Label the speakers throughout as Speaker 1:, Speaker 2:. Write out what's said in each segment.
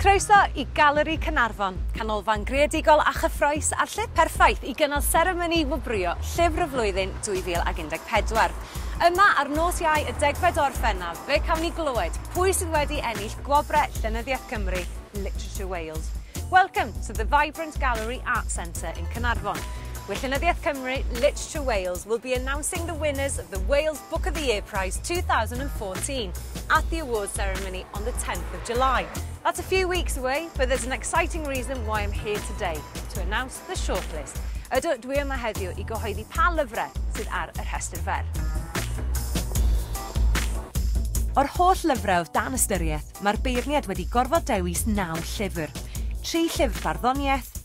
Speaker 1: Croeso i Galeri Caernarfon, canolfan greadigol a chyffroes a'r lle perffaith i gynnal seremoni wobrwyo Llyfr y Flwyddyn 2014. Yma ar nos Iau y degfed o Orffennaf, fe cawn ni glywed pwy sydd wedi ennill gwobrau Llenyddiaeth Gymru, Literature Wales. Welcome to the vibrant Gallery Art Centre in Caernarfon. Wy Llenyddiaeth Cymru, Literature Wales, will be announcing the winners of the Wales Book of the Year Prize 2014 at the awards ceremony on the 10th of July. That's a few weeks away, but there's an exciting reason why I'm here today, to announce the shortlist. Ydw, dwi yma heddiw i gyhoeddi pa lyfrau sydd ar y rhestr fer. O'r holl lyfrau oedd dan ystyriaeth, mae'r beirniad wedi gorfod dewis naw llyfr. Tri llyfr farddoniaeth,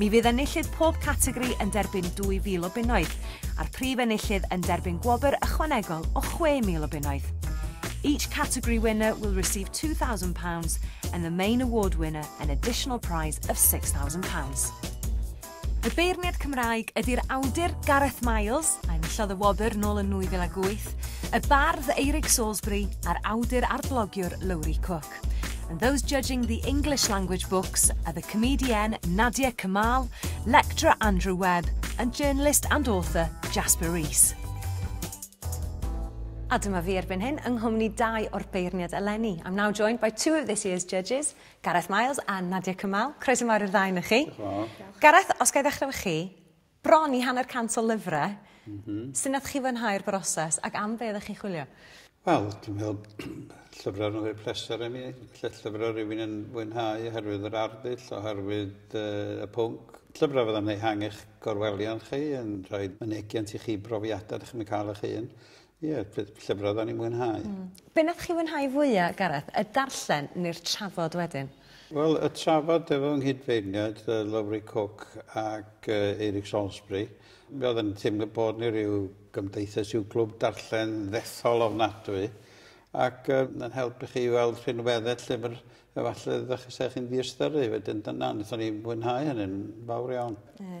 Speaker 1: Mi fydd enillydd pob categori yn derbyn 2,000 o bunnoedd, a'r prif enillydd yn derbyn gwobr ychwanegol o 6,000 o bunnoedd. Each category winner will receive £2,000 and the main award winner an additional prize of £6,000. Y beirniad Cymraeg ydy'r awdur Gareth Miles, a enillodd y wobr nôl yn 2008, y bardd Eirig Salisbury a'r awdur a'r blogiwr Lowri Cook. Park, and those judging the English language books are the comedienne Nadia Kamal, lecturer Andrew Webb, and journalist and author Jasper Rees. A dyma fi erbyn hyn yng nghwmni dau o'r beirniad eleni. I'm now joined by two of this year's judges, Gareth Miles a Nadia Kamal. Croeso mawr i'r ddau na chi. Gareth, os gael ddechrau efo chi, Bron i hanner cant o lyfrau. Mm-hm. Sut nath chi fwynhau'r broses ac am be oeddech chi'n chwilio? Wel, dwi'n meddwl llyfrau yn rhoi pleser i mi. Lle llyfrau rhywun yn fwynhau oherwydd yr arddull, oherwydd uh, y pwnc. Llyfrau fyddai'n ehangu'ch gorwelion chi, yn rhoi mynegiant i chi brofiadau ydych chi'n cael eich hun. Ie lle lle fydda fydda ni'n mwynhau. Hmm. Be' nathoch chi fwynhau fwya Gareth y darllen ne'r trafod wedyn? Wel y trafod efo nghydfeirniaid yy Lowri Cook ac yy Eric Salisbury mi o'dd yn teimlo bod ni ryw gymdeithas i'w glwb darllen ddethol ofnadwy ac yy ma'n helpu chi i weld rhinwedde lle ma'r efalle ddach chi se chi'n diystyru wedyn dyna nethon ni fwynhau hynny'n fawr iawn. Ie.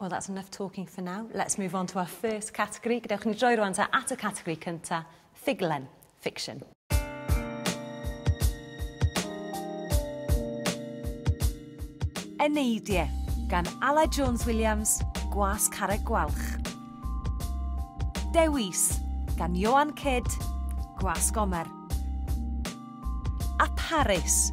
Speaker 1: Well, that's enough talking for now. Let's move on to our first category. Gadewch ni droi rwan ta at y category cynta, ffuglen, fiction. Eneidie, gan Ala Jones Williams, Gwas Carreg Gwalch. Dewis, gan Johan Kidd, Gwas Gomer. A Paris,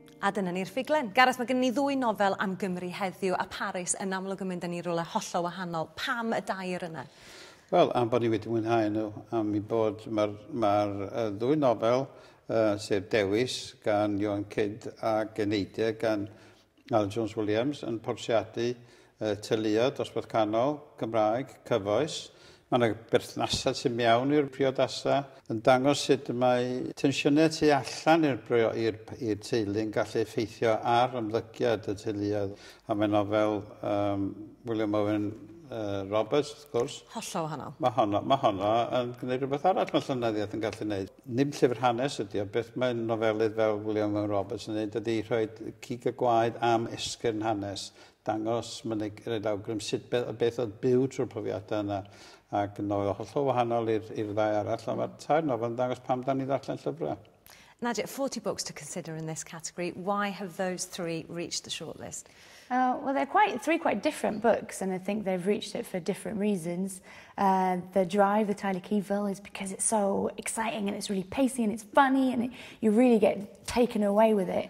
Speaker 1: A dyna ni'r ffuglen. Gareth, mae gennym ni ddwy nofel am Gymru heddiw, a Paris yn amlwg yn mynd â ni i rywle hollol wahanol. Pam y dair yna? Wel, am bod ni wedi mwynhau nhw, am eu bod... Mae'r mae'r ddwy nofel, sef Dewis gan Ioan Cid ac Eneidia gan Alun Jones Williams yn portreadu y teuluoedd, dosbarth canol, Gymraeg, cyfoes. Mae yna berthnasau tu mewn i'r priodasau yn dangos sut mae tensiynau tu allan i'r brio- i'r i'r teulu'n gallu effeithio ar ymddygiad y teuluoedd. A mae nofel um, William Owen uh, Roberts, wrth gwrs, Hollol wahanol. mae honno, mae honno yn gwneud rhywbeth arall mae llynyddiaeth yn gallu gwneud. Dim llyfr hanes ydy o, beth mae nofelydd fel William Owen Roberts yn gwneud ydy rhoi cig y gwaed am esgyrn hanes. dangos mynyg, roed awgrym sut beth, beth oedd byw trwy'r profiadau yna. Ac yn oedd hollol wahanol i'r ddau arall, ond mae'r tair nofel yn dangos pam da ni ddarllen llyfrau. Nadia, 40 books to consider in this category. Why have those three reached the shortlist? Uh, well, they're quite three quite different books, and I think they've reached it for different reasons. Uh, the Drive, the Tyler Keyville, is because it's so exciting and it's really pacey and it's funny and it, you really get taken away with it.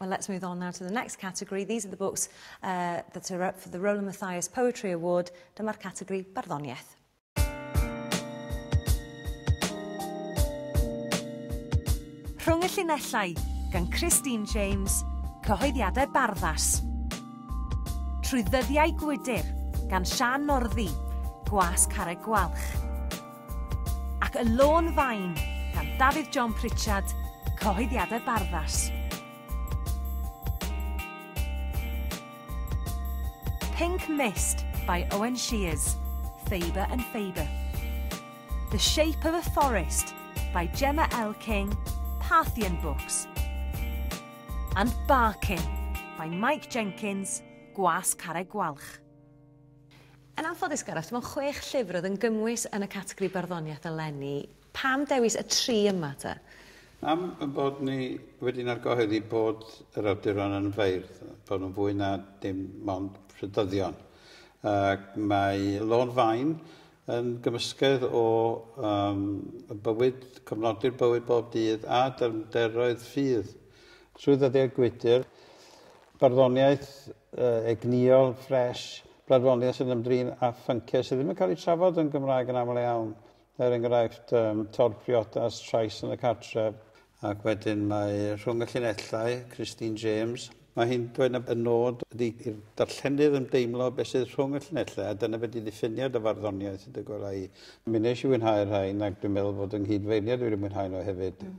Speaker 1: Well, let's move on now to the next category. These are the books uh, that are up for the Roland Mathias Poetry Award. Dyma'r categori barddoniaeth. Rhwng y llinellau, gan Christine James, cyhoeddiadau barddas. Trwy ddyddiau gwydr, gan Sian Norddi, gwas carreg gwalch. ac Y Lôn Fain gan Dafydd John Pritchard, Cyhoeddiadau Barddas. Pink Mist by Owen Shears, Faber and Faber. The Shape of a Forest by Gemma L. King, Parthian Books. And Barking by Mike Jenkins, Gwas Carreg Gwalch. Yn anffodus Gareth, dim ond chwech llyfr oedd yn gymwys yn y categori barddoniaeth eleni. Pam dewis y tri yma te? Am ein bod ni wedi'n argyhoeddi bod yr awduron yn feirdd, bod nhw'n fwy na dim ond rhydyddion. Ac mae Lôn Faen yn gymysgedd o um, bywyd, cofnodi'r bywyd bob dydd a dyfnderoedd ffydd. Trwy ddyddiau gwydr, barddoniaeth egnïol, fresh, bladfoniaeth sy'n ymdrin â phynciau sydd ddim yn cael eu trafod yn Gymraeg yn aml iawn, er enghraifft um, tor priodas, trais yn y cartref, ac wedyn mae rhwng y llinellau, Christine James, mae hi'n dweud na y nod ydy i'r darllenydd ymdeimlo beth sydd rhwng y llinellau, a dyna beth i ddiffinio dy farddoniaeth, dy gwela i. Mi nes i fwynhau'r rhain, ac dwi'n meddwl bod yng nghyd-feirniad wedi mwynhau nhw hefyd. Mm.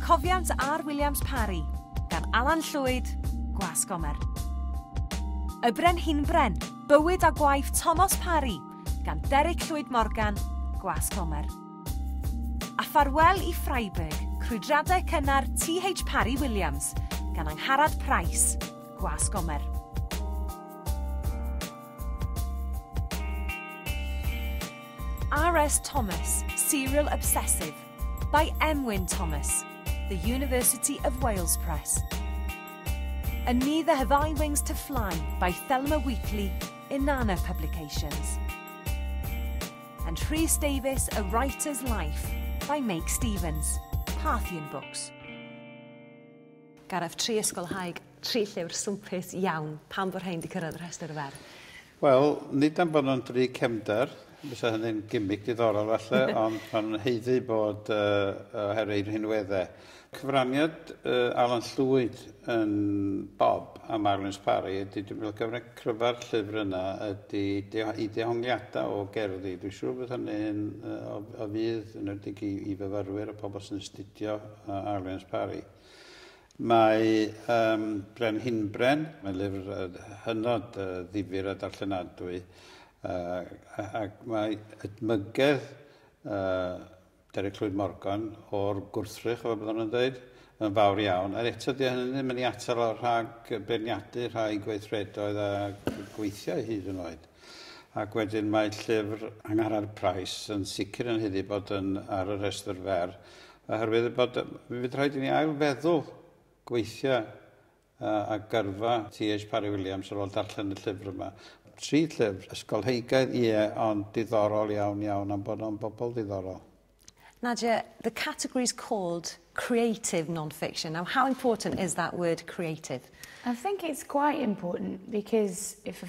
Speaker 1: Cofiant ar Williams Parry, gan Alan Llwyd, Gwas Gomer. Y Brenhinbren, Bywyd a Gwaith Thomas Parry, gan Derek Llwyd Morgan, Gwas Gomer. A Ffarwel i Freiburg, Crwydradau Cynnar T.H. Parry Williams, gan Angharad Price, Gwas Gomer. R.S. Thomas, Serial Obsessive, By M. Wyn Thomas, The University of Wales Press. A Neither Have I Wings to Fly by Thelma Wheatley, Inanna Publications. And Rhys Davies, A Writer's Life by Make Stevens, Parthian Books. Gareth, tri ysgolhaig, tri llyfr swmpus iawn. Pam bod rhain wedi cyrraedd y rhestr fer? Wel, nid am bod nhw'n dri cefnder, fysa hynny'n gimmick diddorol falle, ond maen nhw'n haeddu bod uh, oherwydd eu rhinweddau. Cyfraniad uh, Alan Llwyd yn Bob am Arwins Parry ydy, dwi'n meddwl cyfraniad cryfa'r llyfr yna ydy i dehongliadau o gerddi. Dwi'n siŵr bod hynny'n uh, o, o fydd yn edig i, i fyfyrwyr a pobl sy'n astudio uh, Arwins Parry. Mae Ym Brenhinbren, mae'n lyfr hynod ddifyr a darllenadwy, ac mae edmygedd Derek Llwyd Morgan o'r gwrthrych, fel byddwn yn dweud, yn fawr iawn. Ond eto, dyw hynny ddim yn ei atal o rhag beirniadu rhai gweithredoedd a gweithiau hyd yn oed. Ac wedyn mae llyfr Angharad Price yn sicr yn haeddu bod yn ar y rhestr fer Oherwydd bod, mi fydd rhaid i ni ail feddwl gweithio a gyrfa TH Parry Williams ar ôl darllen y llyfr yma. Tri llyfr, ysgolheigaidd, ie, ond diddorol iawn iawn am bod o'n bobl ddiddorol. Nadia, the category is called creative non-fiction. Now, how important is that word creative? I think it's quite important because if a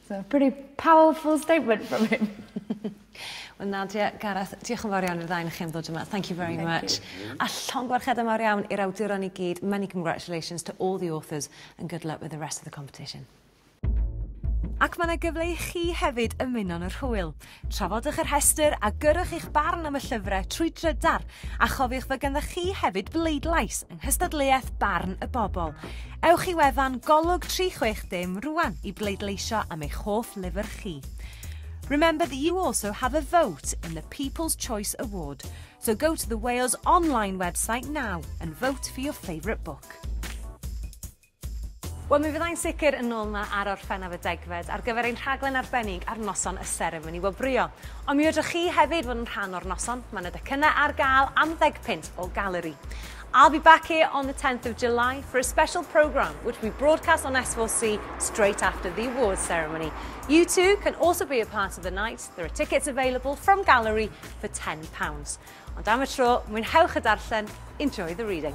Speaker 1: It's a pretty powerful statement from him. Wel Nadia, Gareth, diolch yn fawr iawn i'r ddau ohonoch chi am ddod yma. Thank you very Thank much. You. A llongyfarchiadau mawr iawn i'r awduron i gyd. Many congratulations to all the authors and good luck with the rest of the competition. Ac mae yna gyfle i chi hefyd ymuno'n yr hwyl. Trafodwch y rhestr a gyrrwch eich barn am y llyfrau trwy drydar a chofiwch fod ganddoch chi hefyd bleidlais yng nghystadleuaeth Barn y Bobl. Ewch i wefan Golwg 360 rwan i bleidleisio am eich hoff lyfr chi. Remember that you also have a vote in the People's Choice Award, so go to the Wales online website now and vote for your favourite book. Wel, mi fyddai'n sicr yn ôl 'ma ar orffennaf y degfed ar gyfer ein rhaglen arbennig ar noson y seremoni wobrwyo. Ond mi fedrwch chi hefyd fod yn rhan o'r noson, mae 'na docynnau ar gael am ddeg punt o galeri. I'll be back here on the 10th of July for a special programme which will be broadcast on S4C straight after the awards ceremony. You too can also be a part of the night. There are tickets available from Gallery for £10. Ond am y tro, mwynhewch y darllen, enjoy the reading.